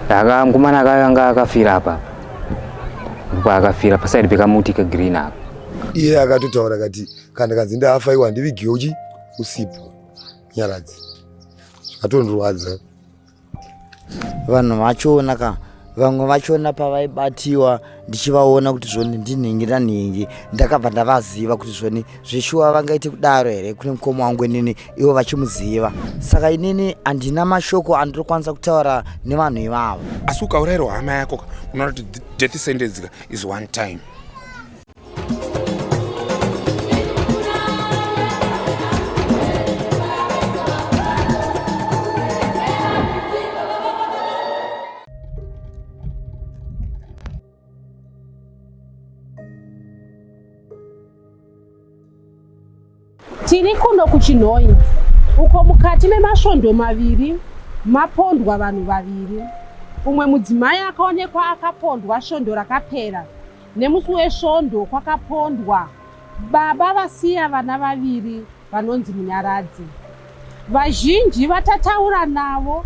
Aka mkomana aka anga akafira apa. Ndipo akafira paside pekamuti ke green apa. Iye akatotaura kati kana kanzi ndafa iwa ndivigiwe uchi usipo. Nyaradzi. Atondirwadza. Vanhu vachiona ka vamwe vachiona pavaibatiwa ndichivaona kuti zvoni ndinhingi nanhingi ndakabva ndavaziva kuti zvoni zveshuwa vangaite kudaro here kune mukoma wangu inini ivo vachimuziva saka inini handina mashoko andirikwanisa kutaura nevanhu ivavo asi ukaurairwa hama yako ka unoona kuti death sentence ka is one time Tiri kuno kuChinhoyi uko mukati memasvondo maviri mapondwa vanhu vaviri. Umwe mudzimai akaonekwa akapondwa svondo rakapera nemusi wesvondo kwakapondwa baba vasiya vana vaviri vanonzi Munyaradzi. Vazhinji vatataura navo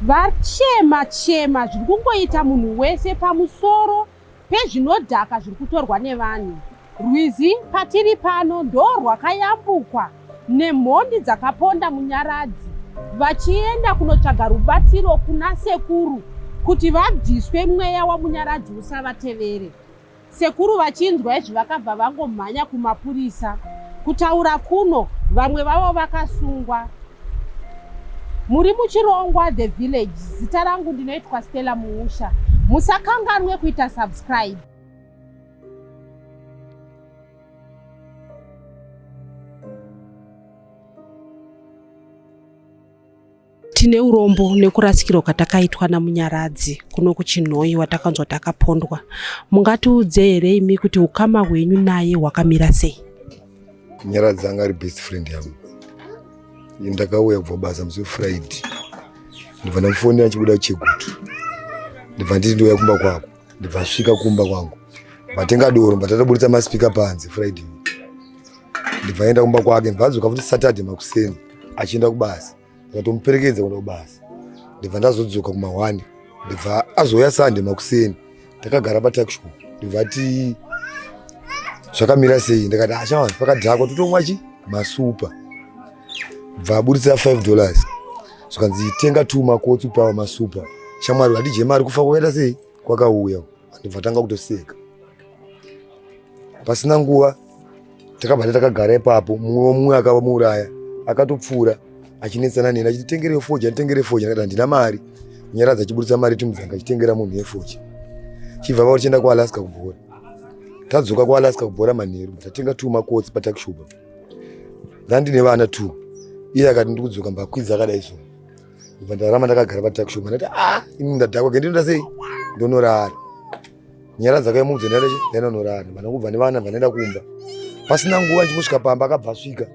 vachema chema zviri kungoita munhu wese pamusoro pezvinodhaka zviri kutorwa nevanhu. Rwizi patiri pano ndo rwakayambukwa nemhondi dzakaponda Munyaradzi vachienda kunotsvaga rubatsiro kuna sekuru kuti vabviswe mweya wamunyaradzi usavatevere. Sekuru vachinzwa izvi vakabva vangomhanya kumapurisa kutaura kuno vamwe vavo vakasungwa. Muri muchirongwa the village. Zita rangu ndinoitwa Stella Muusha. Musakanganwe kuita subscribe. Tine urombo nekurasikirwa kwatakaitwa naMunyaradzi kuno kuChinhoyi watakanzwa takapondwa. Mungatiudze here imi kuti ukama hwenyu naye hwakamira sei? Munyaradzi anga ari best friend yangu. Ndakauya kubva basa musi weFriday. Ndibva ndamufonera chibuda chegutu. Ndibva nditi ndouya kumba kwako. Ndibva asvika kumba kwangu. Vatenga doro, vatataburitsa maspika panze Friday. Ndibva aenda kumba kwake, ndibva adzoka futi Saturday makuseni. achienda kubasa ndikatomuperekedza kuenda kubasa ndibva ndazodzoka kumahwani ndibva azouya sande makuseni takagara patakisho ndibva ti zvakamira sei ndikati achawanzi ah, pakadhakwa totomwa chi masupa bva aburitsa 5 dollars zvikanzi tenga two makotsi upawa masupa shamwari vatidye mari kufa kwakaita sei kwakauya ndibva tanga kutoseka pasina nguva takabva takagara ipapo mumwe womumwe akava muuraya akatopfuura achinetsana neni achiti tengere yefoji anditengere yefoji ndakati handina mari nyaradza achiburitsa mari timudzanga achitengera munhu yefoji chibva vavo tichienda kualaska kubhora tadzoka kualaska kubhora manheru tatenga two makotsi patakishuba ndandine vana two iye akati ndiri kudzoka mbakwidza akadai so bva ndarama ndakagara patakishuba ndati a ah, ini ndadhakwa kendinoda sei ndonorara nyara dzake mudzi nene nene norani vana kubva nevana vanoenda kumba pasina nguva ndichingosvika pamba akabva asvika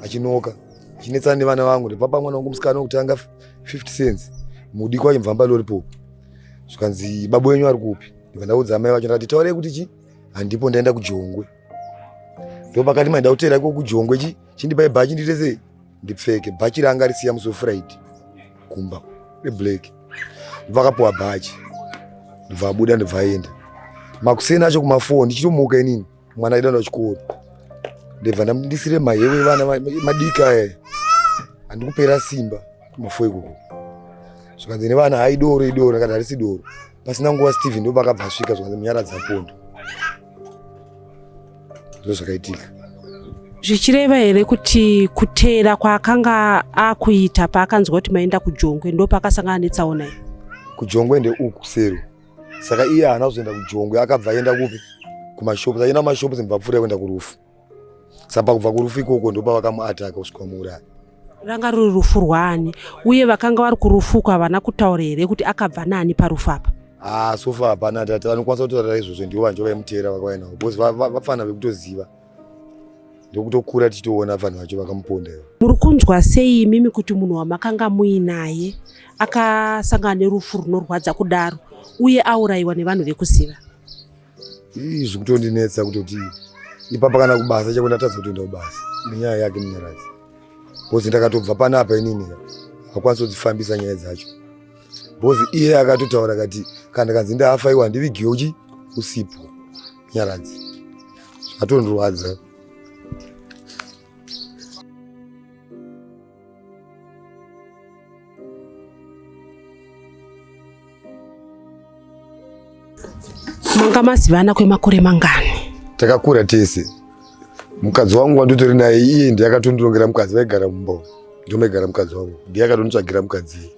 achinoka achinetsana nevana vangu ndipapa mwana wangu musikana wekutanga 50 cents mudikwa achimvamba lollipop zvikanzi babu wenyu ari kupi ndibva ndaudza amai vacho ndikati taurei kuti chi handipo ndaenda kujongwe ndopakati maida kuteera ko kujongwe chi chindipai bhachi ndiite sei ndipfeke bhachi raanga risiya musi wefriday kumba reblack ndivakapuwa bhachi ndibva abuda ndibva aenda makuseni acho kumafoni ndichitomuka inini mwana aida nda chikoro ndibva ndisire mahewe evana madiki aya handikupera simba kumafo ikoko zvikanzi nevana haidoro idoro akati harisi doro Pasina nguva Steven ndopakabva asvika zvikanzi munyaradza pondo. Ndozvakaitika. zvichireva here kuti kuteera kwaakanga akuita paakanzwa kuti maenda kujongwe ndo paakasangana netsaona iyi kujongwe ndeuku sero saka iye haana kuzoenda kujongwe akabva aenda kupi kumashops aenda kumashops mubvapfuura kuenda kurufu saka kubva kurufu ikoko ndopa vakamuataka kusvika muuraya ranga ruri rufu rwaani uye vakanga vari kurufu uko havana kutaura here kuti akabva naani parufu apa haa ah, sofa hapana tati vanokwanisa kutaura izvozvo ndivo vanjo vaimuteera vakauya navo bcause vafana vekutoziva ndokutokura tichitoona vanhu vacho vakamuponda ivo muri kunzwa sei imimi kuti munhu wamakanga muinaye akasangana nerufu runorwadza kudaro uye aurayiwa nevanhu vekuziva Ii zvikutondinetsa kutoti ipapa kana kubasa chako ndatadza kutoenda kubasa nenyaya yake Munyaradzi. Bozi ndakatobva panapa inini hakwanisi kudzifambisa nyaya dzacho. Bozi iye akatotaura kati kana kanzi ndafa iwa ndivigiwe uchi usipo Munyaradzi. Zvatondirwadza. manga mazivana kwemakore mangani takakura tese mukadzi wangu wanditori naye iye ndiye akatondirongera mukadzi vaigara mumba ndomaigara mukadzi wangu ndiye akatonditsvagira mukadzi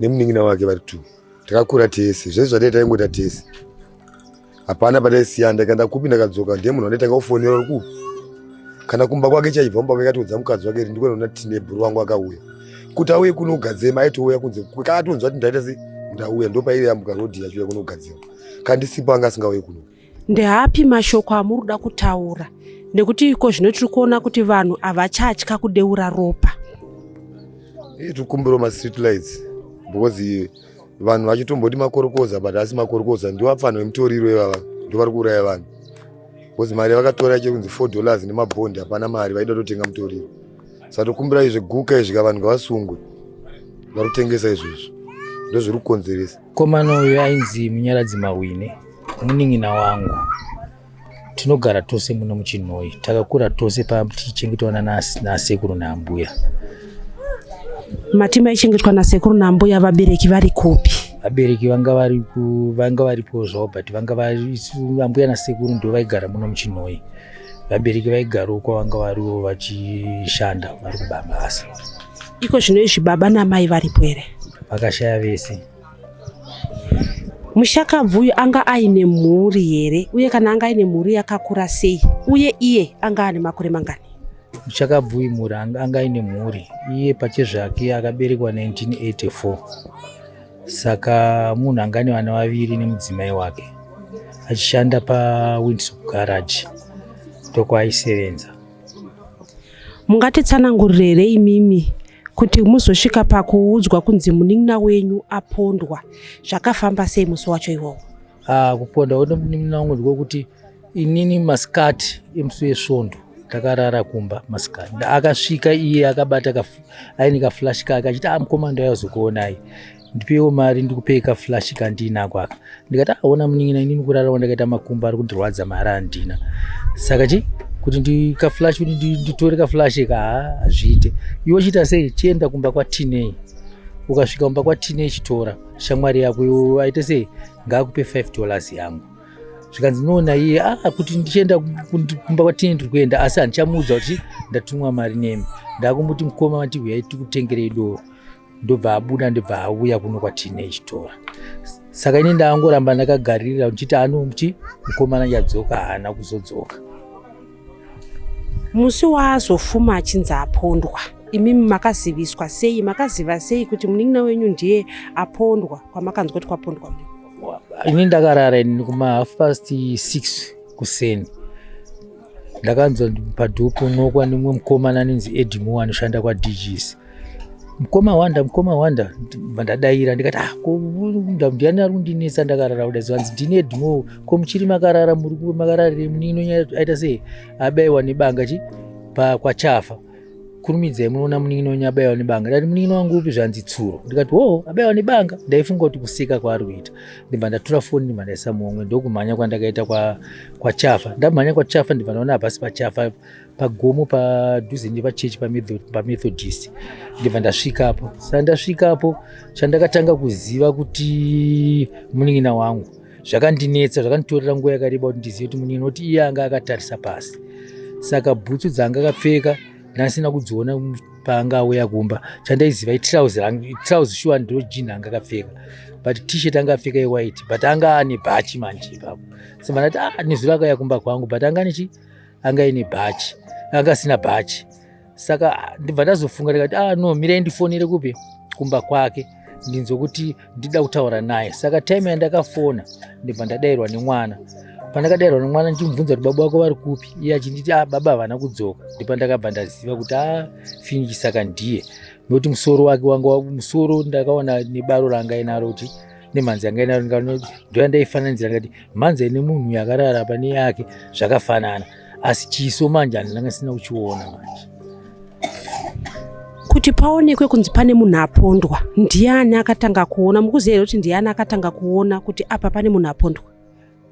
nemunin'ina wake vari two takakura tese zvese zvadai taingota tese hapana pataisiya ndakaenda kupi ndakadzoka ndiye munhu andaitanga kufonera uri kupi kana kumba kwake chaibva mumba kwake atiudza mukadzi wake ri ndikona tine bhuru wangu akauya kuti auye kuno kugadzema aitouya kunze kaatonzwa kuti ndaita se ndauya ndopairi yambuka rodhi yachiuya kuno kugadzema kandisipo anga asingauye kuno ndeapi mashoko amuri kuda kutaura nekuti iko zvino tiri kuona kuti vanhu havachatya kudeura ropa tiri kumbiro mastreet lights because vanhu vachitomboti makorokoza but asi makorokoza ndiwo apfanha vemutoriro ivava ndo vari kuuraya vanhu bcause mari yavakatora iche kunzi four dollars nemabhondi hapana mari vaida totenga mutoriro saka tokumbira izvi guka izvika vanhu ngavasungwe vari kutengesa izvozvo ndozviri kukonzeresa komana uyo ainzi munyaradzi mawine munin'ina wangu tinogara tose muno muchinhoyi takakura tose patichengetwa nasekuru naambuya mati maichengetwa nasekuru naambuya vabereki vari kupi vabereki vanga vari vanga varipo zvavo but vanga vari ambuya nasekuru ndo vaigara muno muchinhoyi vabereki vaigara uko vanga variwo vachishanda vari kubabasa iko zvino izvi baba namai varipo here vakashaya vese mushakabvu uyu anga aine mhuri here uye kana anga aine mhuri yakakura sei uye iye anga ane makore mangani mushakabvu uyu mhuri anga aine mhuri iye pachezvake akaberekwa 1984 saka munhu anga ane vana vaviri nemudzimai wake achishanda pawindsop garage ndokwaisevenza Mungatitsanangurire here imimi kuti muzosvika pakuudzwa kunzi munin'ina wenyu apondwa zvakafamba sei musi wacho iwowo? Ah, kupondwa kuti munin'ina wangu ndikokuti inini masikati emusi wesvondo takarara kumba masikati akasvika iye akabata aine kaflash kake achiti ah mukoma ndauya kuzokuonai ndipewo mari ndikupe ka flash kandinako aka ndikati aona ah, munin'ina inini kurara wandakaita makumbo ari kundirwadza mari andina saka chi kuti ndika flash kuti nditore ka flash ka hazviite iwe chiita sei chienda kumba kwa tinei ukasvika kumba kwa tinei chitora shamwari yako iwe aite sei ngaakupe 5 dollars yangu zvikanzi noona iye a ah, kuti ndichienda kumba kwa tinei ndiri kuenda asi handichamuudza kuti ndatumwa mari nemi ndakumuti mukoma vati huyai tikutengerei doro ndobva abuda ndibva auya kuno kwatine chitora saka ini ndaangoramba ndakagaririra ndichiti anomuti mukomana yadzoka haana kuzodzoka musi waazofuma achinzi apondwa imi makaziviswa sei makaziva sei kuti munin'ina wenyu ndiye apondwa kwamakanzwa kuti kwapondwa mu ini ndakarara ini kumahalf past six kuseni ndakanzwa padhoo ponokwa nemumwe mukomana anonzi edimo anoshanda kwadgs mukoma wanda mukoma wanda ndadaira ndikati ah, ndiani ari kundinetsa ndakarara kuda zvanzi ndini edimo ko muchiri makarara muri makararire munino nyaya aita sei abaiwa nebanga chi kwachafa kurumidzai munoona munin'ina wenyu abaiwa nebanga ndati munin'ina wangu upi zvanzi tsuro ndikati wo oh, abaiwa nebanga ndaifunga kuti kusika kwaari kuita ndibva ndatura foni ndibva ndaisa muhomwe ndokumhanya kwandakaita kwachafa ndamhanya kwachafa ndibva ndaona hapasi pachafa pagomo padhuze nepachechi pamethodist ndibva ndasvikapo saka ndasvikapo chandakatanga kuziva kuti munin'ina wangu zvakandinetsa zvakanditorera nguva yakareba kuti ndizive kuti munini noti iye anga akatarisa pasi saka bhutsu dzaanga akapfeka ndandisina kudziona paanga auya kumba chandaiziva itrauzi rangu itrauzi shuwa ndiro jini anga akapfeka but tshirt anga apfeka yewhite but anga ane bhachi manje ipapo so vandati ah nezuro akauya kumba kwangu but anga nechi anga ine bhachi anga asina bhachi saka ndibva ndazofunga ndikati ah no mirai ndifonere kupi kumba kwake ndinzwe kuti ndida kutaura naye saka time yandakafona ndibva ndadairwa nemwana pandakadairwa nemwana ndichimubvunza kuti baba wako vari kupi iye achinditi ah baba havana kudzoka ndipo ndakabva ndaziva kuti a ah, finiki saka ndiye nokuti musoro wake wanga musoro ndakaona nebaro ranga inaro kuti nemhanzi yanga inaro ndoyandaifananidzira ndikati mhanzi ine munhu yakarara pane yake zvakafanana asi chiso manje handinanga sina kuchiona manje kuti paonekwe kunzi pane munhu apondwa ndiani akatanga kuona mukuziva here kuti ndiani akatanga kuona kuti apa pane munhu apondwa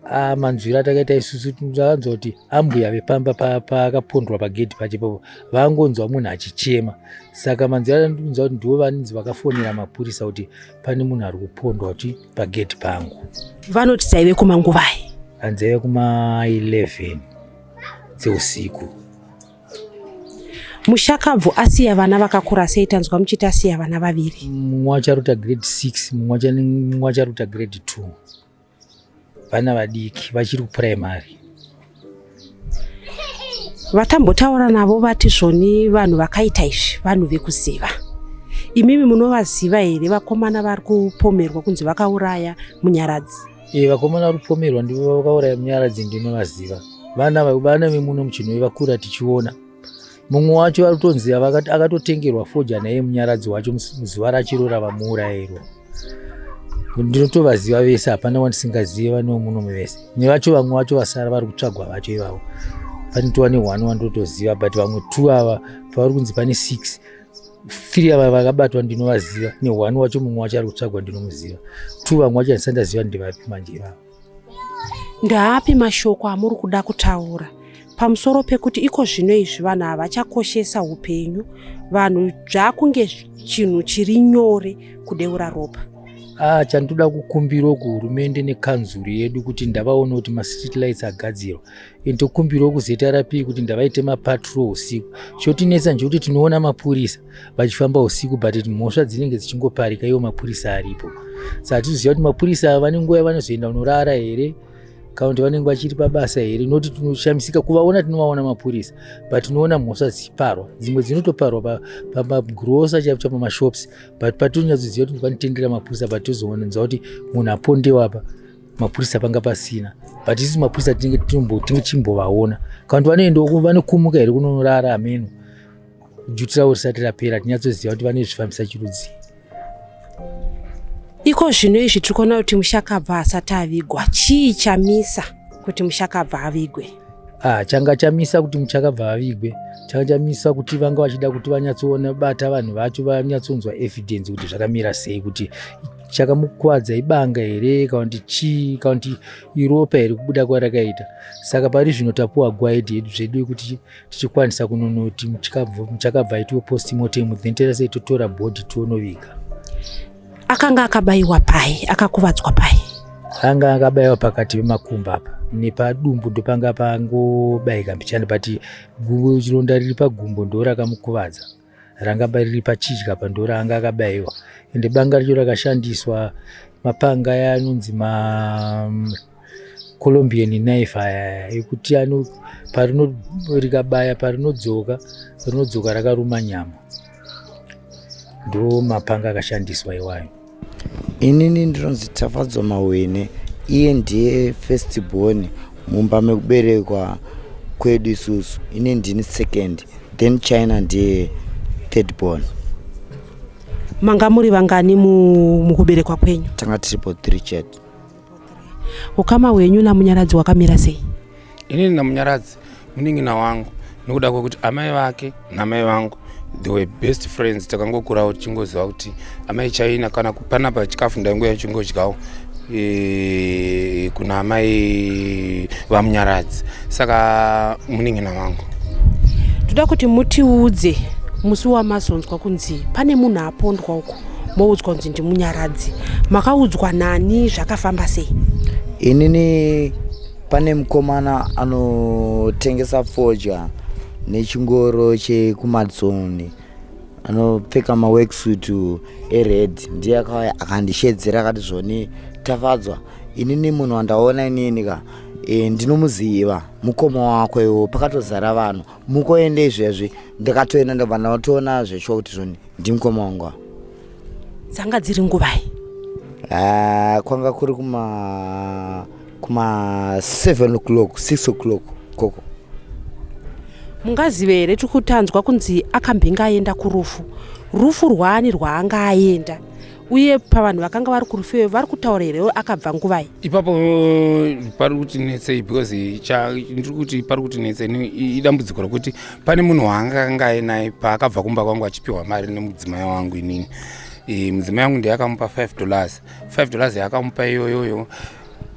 ah, manzwiro atakaita isusu takanzwa kuti ambuya vepamba paakapondwa pa pagedhi pacho ipapo vangonzwa munhu achichema saka manzwiro atanzwa kuti ndivo vanzi vakafonera mapurisa kuti pane munhu ari kupondwa kuti pagate pangu. Vanoti dzaive kumanguvai? Anzaive kuma 11 dzeusiku. Mushakabvu asiya vana vakakura sei tanzwa muchiti asiya vana vaviri? Mumwe acharuta grade 6, mumwe acharuta grade 2. Vana vadiki vachiri kuprimary. vatambotaura navo vati zvoni vanhu vakaita izvi vanhu vekuziva imimi munovaziva here vakomana vari kupomerwa kunzi vakauraya munyaradzi e, vakomana vari kupomerwa ndivo vakauraya munyaradzi ndinovaziva vana vana vemuno muchinoi vakura tichiona mumwe wacho ari kutonzi akatotengerwa foja naye munyaradzi wacho muzuva rachiro ravamuurairwa ndinotovaziva vese hapana wandisingazive vanewo muno muvese nevacho vamwe vacho vasara vari kutsvagwa vacho ivavo pane tova nehwani wandotoziva but vamwe two ava pavari kunzi pane six three ava vakabatwa ndinovaziva nehwani wacho mumwe wacho ari kutsvagwa ndinomuziva two vamwe wacho handisandaziva ndivapi manje ivavo Ndaapi mashoko amuri kuda kutaura pamusoro pekuti iko zvino izvi vanhu havachakoshesa upenyu vanhu zvakunge chinhu chiri nyore kudeura ropa ah, chandoda kukumbirawo kuhurumende nekanzuru yedu kuti ndavaone kuti mastreet lights agadzirwa and tokumbirawo kuzrp kuti ndavaite mapatrol usiku chotinetsa nje kuti tinoona mapurisa vachifamba usiku but mhosva dzinenge dzichingoparika iwo mapurisa aripo saka tizoziva kuti mapurisa ava vane nguva yavanozoenda kunorara here kana kuti vanenge vachiri pabasa here noti tinoshamisika kuvaona tinovaona mapurisa but tinoona mhosva dzichiparwa dzimwe dzinotoparwa pamagrosa chaipo cha pamashops but patonyatsoziva kuti panotendera mapurisa but tozoonanza kuti munhu apondewa apa mapurisa panga pasina but isu mapurisa tinenge tichimbovaona kana kuti vanoendawo vanokumuka here kunonorara ameno Duty ravo risati rapera tinyatsoziva kuti vane zvifambisa chirudzii. Iko zvino izvi tiri kuona kuti mushakabva asati avigwa, chii chamisa kuti mushakabva avigwe? Ah, changa chamisa kuti muchakabva avigwe changa chamisa kuti vanga vachida kuti vanyatsoona bata vanhu vacho vanyatsonzwa evidence kuti zvakamira sei kuti chakamukwadza ibanga here kana kuti chii kana kuti iropa here kubuda kwarakaita saka pari zvino tapuwa gwaidi hedu zvedu yekuti tichikwanisa kunonoti muchakabva itiwo post mortem then toita sei totora body tonoviga akanga akabayiwa pai akakuvadzwa pai anga akabayiwa pakati pemakumba apa nepadumbu ndopanga pangobayika mbichani but chironda riri pagumbo ndo rakamukuvadza ranga riri pachidya apa ndoranga akabayiwa ende banga richo rakashandiswa mapanga aya anonzi macolombian mm, knife aya ekuti ano parino rikabaya parinodzoka rinodzoka rakaruma nyama ndo mapanga akashandiswa iwayo inini ndinonzi tafadzwa mawene iye ndiye first born mumba mekuberekwa kwedu isusu ini ndini second then china ndiye third born manga muri vangani mukuberekwa kwenyu tanga tiripo three chat ukama hwenyu namunyaradzi wakamira sei inini namunyaradzi munin'ina wangu nokuda kwekuti amai vake namai vangu the way best friends takangokurawo tichingoziva kuti amai chaina kana panapa chikafu ndaingoya chingodyawo e, kuna amai vamunyaradzi saka munin'ina wangu toda kuti mutiudze musi wamazonzwa kunzi pane munhu apondwa uko moudzwa kunzi ndimunyaradzi makaudzwa nani zvakafamba sei inini pane mukomana anotengesa fodya nechingoro chekumadzoni anopfeka maworksuit ered ndiye akauya akandishedzera akati zvoni tafadzwa inini munhu wandaona inini ka e, ndinomuziva mukoma wako iwo pakatozara vanhu mukoende izvezvi ndakatoenda ndobva ndatoona zveshuwa kuti zvoni ndimukoma wangu ava dzanga dziri nguvai Ah, kwanga kuri kuma kuma 7 o'clock 6 o'clock koko mungazive here tiri kutanzwa kunzi akambenge aenda kurufu rufu rwaani rwaanga aenda uye pavanhu vakanga vari kurufeyo vari kutaura here akabva nguvai ipapo pari kuti netsei because ndiri kuti pari kuti netsei idambudziko rokuti pane munhu waanga anga ainaye paakabva kumba kwangu achipiwa mari nemudzimai wangu inini e, mudzimai wangu ndiye akamupa 5 dollars 5 dollars yaakamupa iyoyoyo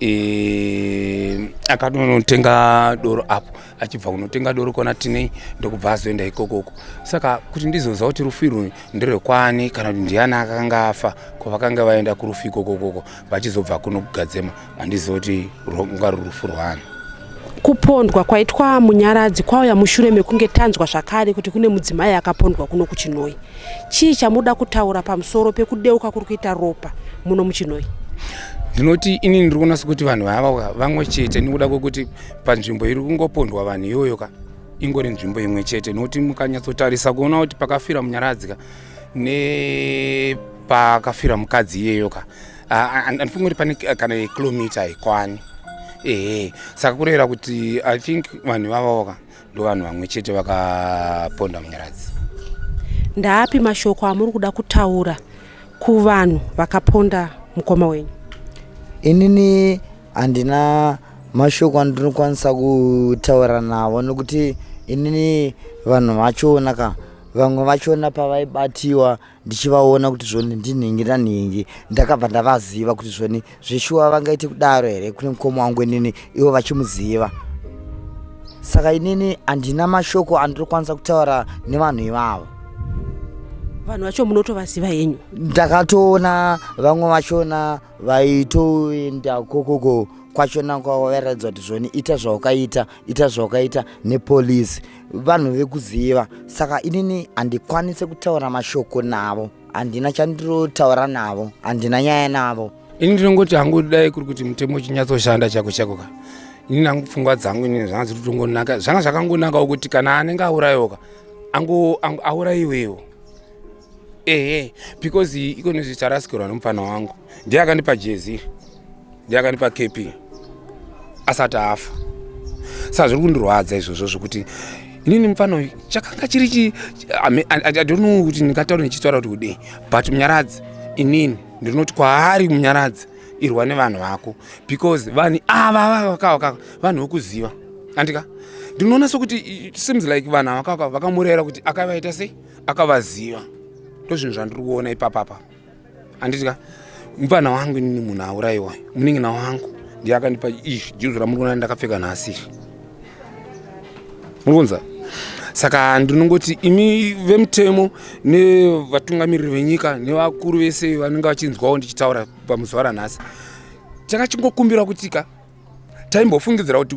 e, akatonotenga doro apo achibva kunotenga doro kwana tinei ndokubva azoenda ikokoko saka kuti ndizoziva kuti rufu irwu nderwekwani kana kuti ndiani akanga afa kwavakanga vaenda kurufu ikokokoko vachizobva kuno kugadzema handiziva kuti rwanga ruri rufu rwaani kupondwa kwaitwa munyaradzi kwauya mushure mekunge tanzwa zvakare kuti kune mudzimai akapondwa kuno kuchinoi chii chamuda kutaura pamusoro pekudeuka kuri kuita ropa muno muchinoi ndinoti inini ndiri kunasa kuti vanhu vava vamwe chete nekuda kwekuti panzvimbo iri kungopondwa vanhu iyoyo ka ingori nzvimbo imwe chete nokuti mukanyatsotarisa kuona kuti pakafira munyaradzi ka nepakafira mukadzi iyeyo ka andifungi kuti pane kana yekilomita haikwani ehe saka kurevera kuti i think vanhu vavawo ka ndo vanhu vamwe chete vakaponda munyaradzi ndaapi mashoko amuri kuda kutaura kuvanhu vakaponda mukoma wenyu inini Handina mashoko andinokwanisa kutaura navo nokuti inini vanhu vachona ka vamwe vachona pavaibatiwa ndichivaona kuti zvoni ndinhingi nanhingi ndakabva ndavaziva kuti zvoni zveshuwa vangaite kudaro here kune mukoma wangu inini ivo vachimuziva saka inini handina mashoko andinokwanisa kutaura nevanhu ivavo vanhu vacho munotovaziva henyu ndakatoona vamwe vachona vaitoenda kokoko kwachona kwavairaidzwa kuti zvoni ita zvaukaita ita zvaukaita nepolisi vanhu vekuziva saka inini handikwanise kutaura mashoko navo handina chandirotaura navo handina nyaya navo ini ndinongoti hangu dai kuri kuti mutemo uchinyatsoshanda chako chako ka ini nangu pfungwa dzangu inini zvanga dziri kutongonaka zvanga zvakangonakawo kuti kana anenge aurayoka angu auraiwewo ehe because ikoni zvicharasikirwa nomupfana wangu ndiye akandipa jezi ndiye akandipa kp asati afa sa zviri kundirwadza izvozvo zvokuti inini mupfana uyu chakanga chiri chi adonno kuti ndingataura ndichitaura kuti kudei but munyaradzi inini ndinoti kwaari munyaradzi irwa nevanhu vako because vanhu ava vakavakava vanhu vokuziva andika ndinoona sokuti seems like vanhu avakavakava vakamurera kuti akavaita sei akavaziva ndozvinhu zvandiri kuona ipapapa handitya mupana wangu inini munhu auraiwa munin'ina wangu ndiye akandipa izvi juzu ramuri kuona ndakapfeka nhasi izvi muri kunza saka ndinongoti imi vemutemo nevatungamiriri venyika nevakuru vese vanenge vachinzwawo ndichitaura pamuzuva ranhasi chakachingokumbira kutika taimbofungidzira kuti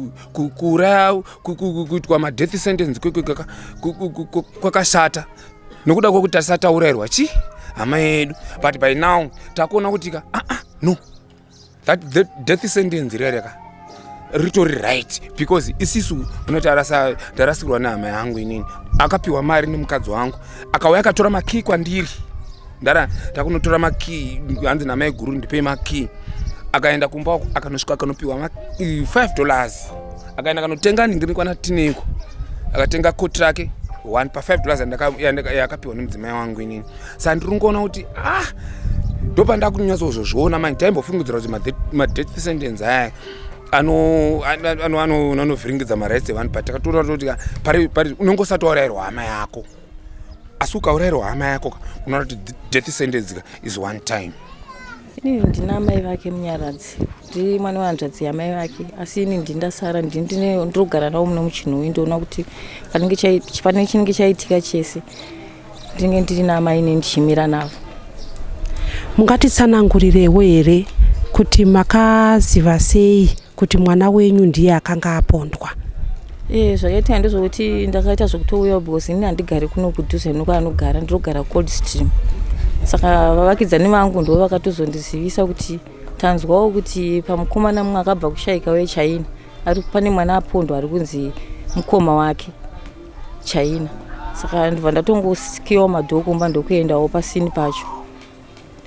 kuuraya kuitwa madeath sentence kwakashata nokuda kwekuti tasataurairwa chi hama yedu but by now takuona kuti ka aa ah, ah, no that death sentence rere ka ritori right because isisu unoti ndarasikirwa nehama yangu inini akapiwa mari nemukadzi wangu akauya akatora makii kwandiri ndara takunotora makey hanzi namai guru ndipei makey akaenda kumba akanosvika akanopiwa ma 5 dollars akaenda akanotenga ningi rikwana tiniko akatenga koti rake one pa 5 dollars yakapiwa nemudzimai wangu inini sa ndiri kungoona kuti ah ndopandakunyatsoozvozviona manje taimbofungidzira kuti madeath sentence aya anovhiringidza marights evanhu but takatora toti unenge usati waurairwa hama yako asi ukaurairwa hama yako unoona kuti death sentence ka is one time ini ndina amai vake munyaradzi ndi mwana wehanzvadzi yamai vake asi ini ndindasara ndinogara navo muno muchinhoyi ndoona kuti pane chinenge chaitika chese ndinenge ndiri naamai ne ndichimira navo mungatitsanangurirewo here kuti makaziva sei kuti mwana wenyu ndiye akanga apondwa e, zvakaitika ndezvokuti ndakaita zvekutouya because ini handigari kuno kudhuze nokwaanogara ndinogara cold stream saka vavakidzani vangu ndo vakatozondizivisa kuti tanzwawo kuti pamukomana mumwe akabva kushaika wechaina ari pane mwana apondo ari kunzi mukoma wake chaina saka ndibva ndatongosikiwa madhoo kumba ndokuendawo pasini pacho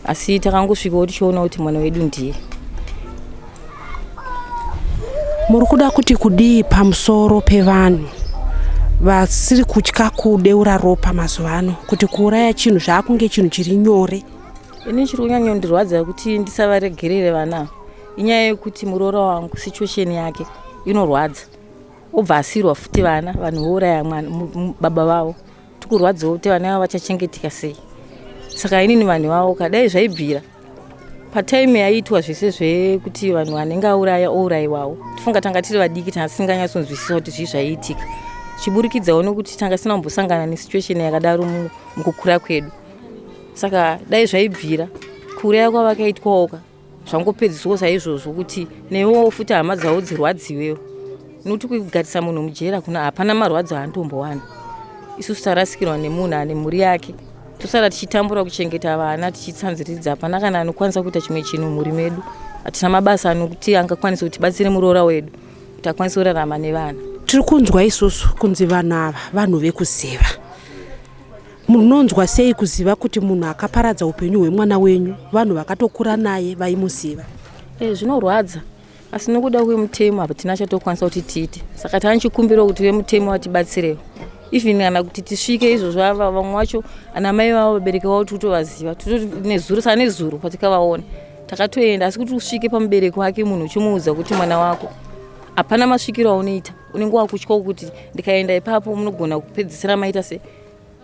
asi takangosvikawo tichiona kuti mwana wedu ndiye muri kuda kuti kudii pamusoro pevanhu vasiri kutya kudeura ropa mazuva ano kuti kuuraya chinhu zvaakunge chinhu chiri nyore ini chiri kunyanyondirwadza kuti ndisavaregerere vana inyaya yekuti muroora wangu situation yake inorwadza obva asirwa futi vana vanhu vouraya mwana baba vavo tikurwadziwa kuti vana vavo vachachengeteka sei saka inini vanhu vavo kadai zvaibvira patime yaiitwa zvese zvekuti vanhu vanenge auraya ourayiwawo tifunga tanga tiri vadiki tanga tisinganyatsonzwisisa kuti zvii zvaiitika chiburikidzawo nokuti tanga tisina kumbosangana nesituation yakadaro mukukura kwedu saka dai zvaibvira kuuraya kwavakaitwawoka zvangopedziswa saizvozvo kuti newewo futi hama dzavo dzirwadziwewo nokuti kugarisa munhu mujera kuna hapana marwadzo aantombowana isusu tarasikirwa nemunhu ane mhuri yake tosara tichitambura kuchengeta vana tichitsanziridza hapana kana anokwanisa kuita chimwe chinhu mhuri medu hatina mabasa anokuti angakwanisa kuti batsire muroora wedu kuti akwanise kurarama nevana tiri kunzwa isusu kunzi vanhu ava vanhu vekuziva Munonzwa sei kuziva kuti munhu akaparadza upenyu hwemwana wenyu vanhu vakatokura naye vaimuziva? E, zvinorwadza asi nokuda kwemutemo hatina chatokwanisa kuti tiite saka tane chikumbiro kuti vemutemo vatibatsirewo even kana kuti tisvike izvo zvava vamwe vacho ana mai vavo vabereki vavo tikutovaziva nezuro saa nezuro patikavaona takatoenda asi kuti usvike pamubereki wake munhu uchimuudza kuti mwana wako hapana masvikiro aunoita unenge wakutyawo kuti ndikaenda ipapo munogona kupedzisira maita sei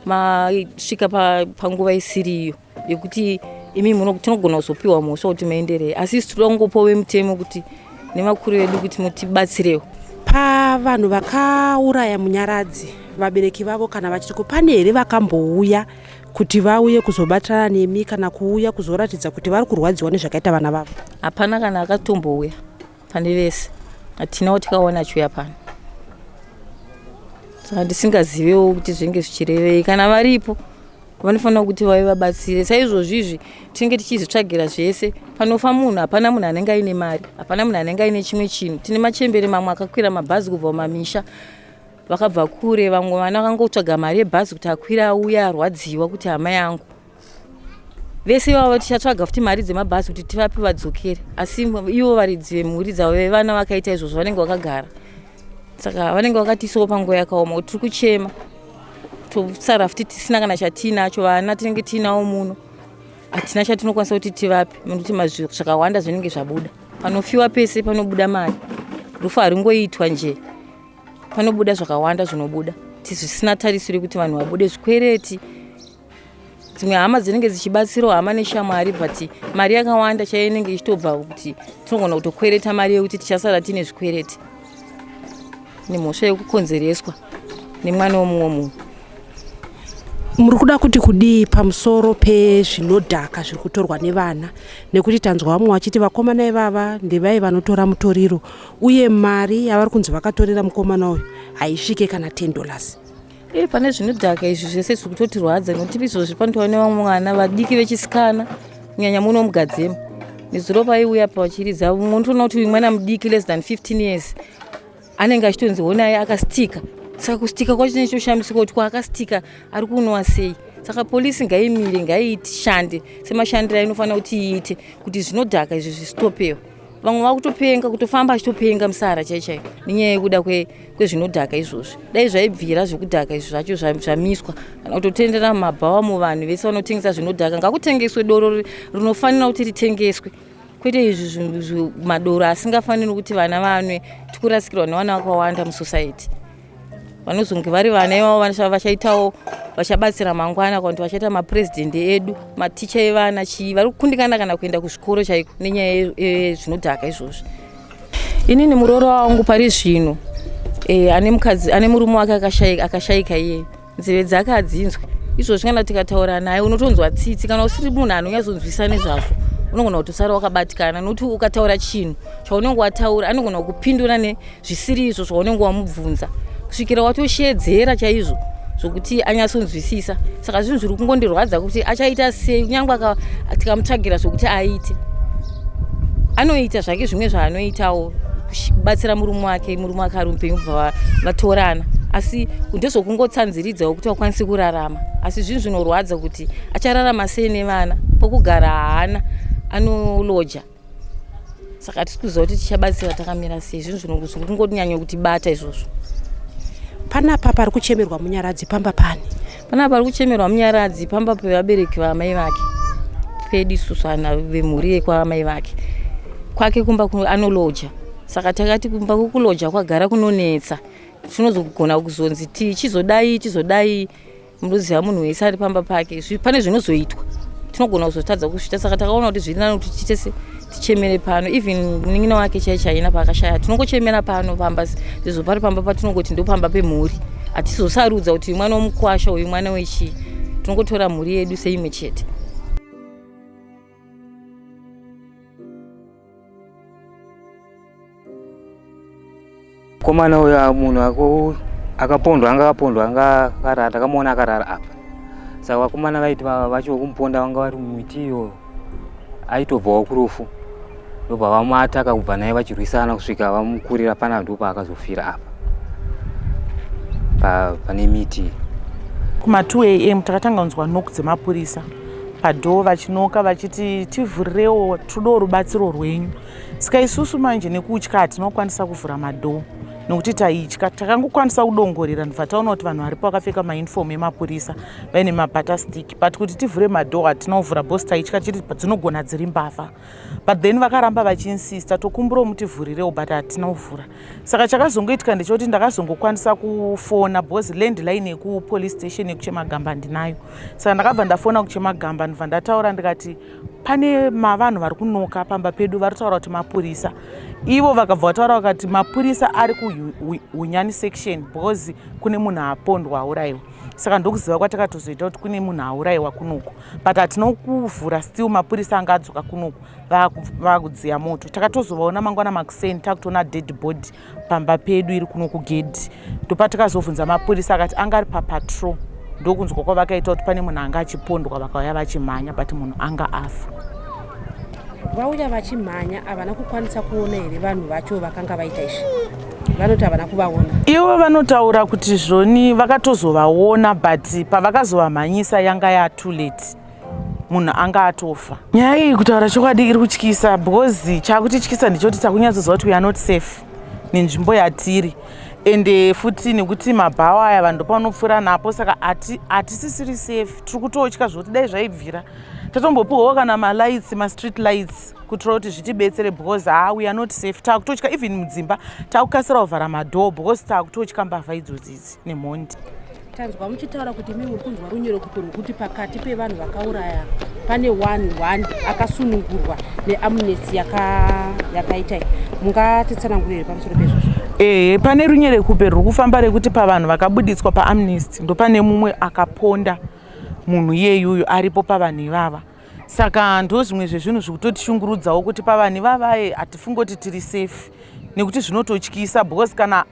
masvika panguva pa isiriyo yekuti imi tinogona kuzopiwa mhosva kuti maenderei asi isi tinoda kungopawo vemutemo kuti nevakuru vedu kuti mutibatsirewo pavanhu vakauraya munyaradzi vabereki vavo kana vachitiko pane here vakambouya kuti vauye kuzobatirana nemi kana kuuya kuzoratidza kuti vari kurwadziwa nezvakaita vana vavo hapana kana akatombouya pane vese hatinawo tikaona chiuya pano saka ndisingazivewo kuti zvinenge zvichirevei kana varipo vanofanira kuti vave vabatsire saizvozvi izvi tinenge tichizvitsvagira zvese panofa munhu hapana munhu anenge aine mari hapana munhu anenge aine chimwe chinhu tine machembere mamwe akakwira mabhazi kubva kumamisha vakabva kure vamwe vana vakangotsvaga mari yebhazi kuti akwira auya arwadziwa kuti hama yangu vese ivavo tichatsvaga futi mari dzemabhazi kuti tivape vadzokere asi ivo varidzi vemhuri dzavo vevana vakaita izvozvo vanenge vakagara saka vanenge vakatiisawo panguva yakaoma kuti tiri kuchema tosara futi tisina kana chatiinacho vana tinenge tiinawo muno hatina chatinokwanisa kuti tivape nokuti mazviro zvakawanda zvinenge zvabuda panofiwa pese panobuda mari rufu haringoitwa nje panobuda zvakawanda zvinobuda tizvisina tarisiro yekuti vanhu vabude zvikwereti dzimwe hama dzinenge dzichibatsirawo hama neshamwari but mari yakawanda chaiyo inenge ichitobva kuti tinogona kutokwereta mari yekuti tichasara tiine zvikwereti nemhosva yekukonzereswa nemwana womumwe munhu muri kuda kuti kudii pamusoro pezvinodhaka zviri kutorwa nevana nekuti tanzwa vamwe vachiti vakomana ivava ndevai vanotora mutoriro uye mari yavari kunzi vakatorera mukomana uyu haisvike kana 10 dollars e pane zvinodhaka izvi zvese zviri kutotirwadza nekuti izvo zviri panotaura nevamwe mwana vadiki vechisikana kunyanya muno mugadzema nezuro paiuya pachiridza mumwe unotoona kuti uyu mwana mudiki less than 15 years anenge achitonzi honai akastika saka kustika kwacho chinenge chitoshamisika kuti kwaakastika ari kunwa sei saka polisi ngaimire ngaishande semashandiro ainofanira kuti iite kuti zvinodhaka izvi zvistopewo vamwe vakutopenga kutofamba achitopenga musara chai chai nenyaya yekuda kwezvinodhaka izvozvi dai zvaibvira zvekudhaka izvi zvacho zvamiswa kana kutotendera mumabhawa muvanhu vese vanotengesa zvinodhaka ngakutengeswe doro rinofanira kuti ritengeswe kwete izvi madoro asingafaniri kuti vana vanwe tikurasikirwa nevana vakawanda musociety vanozonge vari vana ivavo vanasava vachaitawo vachabatsira mangwana kana kuti vachaita mapresident edu maticha evana chii vari kukundikana kana kuenda kuzvikoro chaiko nenyaya yezvinodhaka izvozvi inini muroora wangu pari zvino eh, ane mukadzi ane murume wake akashaika iyeyo nzeve dzake adzinzwe izvozvi kana tikataura naye unotonzwa tsitsi kana usiri munhu anonyatsonzwisa nezvazvo unogona kutosara wakabatikana nokuti ukataura chinhu chaunenge wataura anogona kukupindura nezvisiri izvo zvaunenge wamubvunza kusvikira watoshedzera chaizvo zvokuti anyatsonzwisisa saka zvinhu zviri kungondirwadza kuti achaita sei kunyange tikamutsvagira zvokuti aite anoita zvake zvimwe zvaanoitawo kubatsira murume wake murume wake ari mupenyu kubva vatorana asi ndezvokungotsanziridzawo kuti vakwanisi kurarama asi zvinhu zvinorwadza kuti achararama sei nevana pokugara haana anoloja saka tisi kuziva kuti tichabatsira takamira sei zvinhu zvinozvokungonyanya kutibata izvozvo panapa pari kuchemerwa munyaradzi pamba pani Panapa pari kuchemerwa Munyaradzi pamba pevabereki vaamai vake pedu isusu ana vemhuri yekwaamai vake kwake kumba anoloja saka takati kumba kukuloja kwagara kunonetsa tinozogona kuzonzi ti chizodai chizodai munoziva munhu wese ari pamba pake pane zvinozoitwa tinogona kuzotadza kuzvita saka takaona kuti zviri nani kuti tiite se tichemere pano even munin'ina wake chai chaina paakashaya tinongochemera pano pamba izvo pari pamba patinongoti ndopamba pemhuri hatizosarudza kuti mwana womukwasha uyu mwana wechii tinongotora mhuri yedu seimwe chete Komana uyo ah, munhu ako akapondwa anga akapondwa anga akarara takamuona akarara apa saka vakomana vaiti vacho vekumuponda vanga vari mumiti iyoyo aitobvawo kurufu ndobva vamuataka kubva naye vachirwisana kusvika vamukurira pana ndo paakazofira apa pane miti kuma 2 am takatanga kunzwa noku dzemapurisa padhoo vachinoka vachiti tivhurirewo todawo rubatsiro rwenyu Saka isusu manje nekutya hatinokwanisa kuvhura madhoo nokuti taitya takangokwanisa kudongorera ndibva taona kuti vanhu varipo vakapfeka mauniform emapurisa vaine mabata stick but kuti tivhure madhoo hatina kuvhura bos taitya chiri dzinogona dziri mbavha but then vakaramba vachiinsista tokumbirawo mutivhurirewo but hatina kuvhura saka chakazongoitika ndechekuti ndakazongokwanisa kufona bos land line yekupolice station yekuchemagamba ndinayo saka ndakabva ndafona kuchemagamba ndibva ndataura ndikati pane mavanhu vari kunoka pamba pedu vari kutaura kuti mapurisa ivo vakabva vataura vakati mapurisa ari kuhunyani section because kune munhu apondwa aurayiwa saka ndokuziva kwatakatozoita kuti kune munhu aurayiwa kunoku but hatina kuvhura still mapurisa anga adzoka kunoku vakudziya moto takatozovaona mangwana makuseni takutoona dead body pamba pedu iri kuno kugedhi ndopa tikazobvunza mapurisa akati anga ari papatrol ndokunzwa kwavakaita kuti pane munhu anga achipondwa vakauya vachimhanya but munhu anga afa vauya vachimhanya havana kukwanisa kuona here vanhu vacho vakanga vaita izvi vanoti havana kuvaona ivo vanotaura kuti zvoni vakatozovaona but pavakazovamhanyisa yanga yatoo late munhu anga atofa nyaya iyi kutaura chokwadi iri kutyisa because chakutityisa ndichoti takunyatsoziva kuti weare not safe nenzvimbo yatiri ende futi nekuti mabhawa aya vanhu ndopaunopfuura napo saka hatisisiri safe tiri kutotya zvokuti dai zvaibvira tatombopiwawo kana malights mastreet lights kuitira kuti zvitibetsere because ha we are not safe takutotya even mudzimba takukasira kuvhara madhoo because takutotya mbavha idzodzidzi nemhondi Tanzwa muchitaura kuti imi muri kunzwa runyerekuto rwekuti pakati pevanhu vakauraya pane one one akasunungurwa neamnesty yakaita yaka mungatitsanangurire pamusoro pezvozvo ehe pane runyerekupe ruri kufamba rekuti pavanhu vakabuditswa paamnesty ndopane mumwe akaponda munhu iyeyuyo aripo pavanhu ivava saka ndo zvimwe zvezvinhu zviri kutotishungurudzawo kuti pavanhu ivavaye hatifungoti tiri safe nekuti zvinototyisa because kana